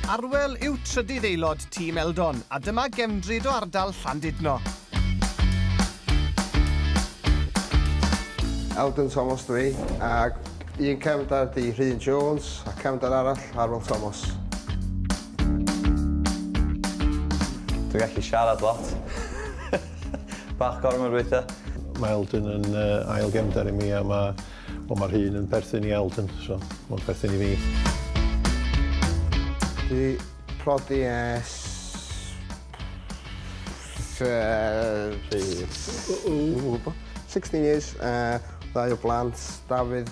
Arwel yw trydydd aelod tîm Eldon a dyma gefndryd o ardal Llandudno. Eldon Thomas dw i ac un cefndar ydy Rhun Jones a cefndar arall Arwel Thomas. Dwi'n gallu siarad lot. Bach gormod weithiau. Mae Eldon yn ail gefndar i mi a mae Wel mae'r un yn perthyn i Alden, so mae'n perthyn i fi. Dwi prodi es... Pryd? 16 years, uh, ddau o blant, Dafydd,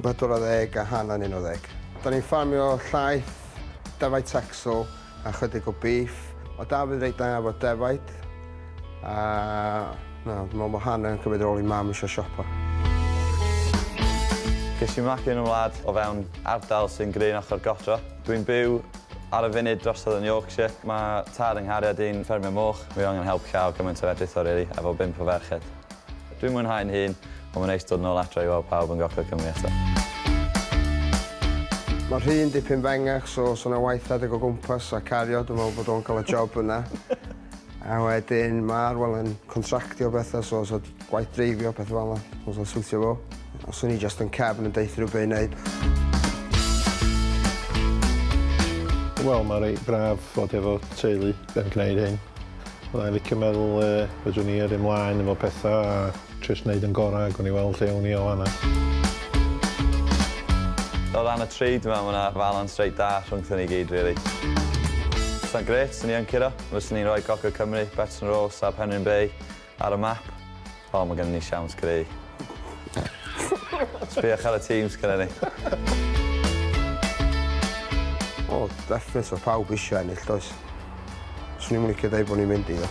14 a Hannah yn 11. Da ni'n ffarmio llaeth, defaid Texel, A chydig o beef. Mae Dafydd reit dda efo defaid. A na, dwi'n meddwl bod Hannah yn cymryd rôl i mam eisiau siopa. Ges i magu yn y wlad o fewn ardal sy'n greu yn ochr godro. Dwi'n byw ar y funud drosodd yn Yorkshire. Mae tad yng nghariad i'n ffermio moch. Mae o angen help llaw gymaint â fedrith o rili, efo bump o ferched. Dwi'n mwynhau yn hun, ond mae'n neis dod nôl adra i weld pawb yn Gogledd Cymru eto. Mae rhy yn dipyn fengach so os yna waith adeg o gwmpas a cario dwi'n meddwl bod o'n cael y job yna. A wedyn mae Arwel yn contractio bethau so os oedd gwaith dreifio pethau fel yna, os o'n siwtio fo. Os o'n i just yn cefn yn deuthio rhyw be i wneud. Wel mae reit braf fod efo teulu yn gwneud hyn. Fydda i'n licio meddwl yy fedrwn i yrru mlaen efo petha a jyst neud yn gora, gawn ni weld lle ewn ni o fan 'na. O ran y tri, dwi me'wl ma' 'na falans reit dda rhwngthon ni gyd rili. Fysa'n grêt 'swn i yn curo. Fyswn i'n rhoi Coco Cymru, Betson Roar, Sab Henryn Bay, Ar y map? O, mae gennym ni siawns greu. Sbïwch ar y tîm sgynnon ni. O, definate, mae pawb eisiau ennill, does? Swn i'm yn licio deud bod ni'n mynd i, ddo.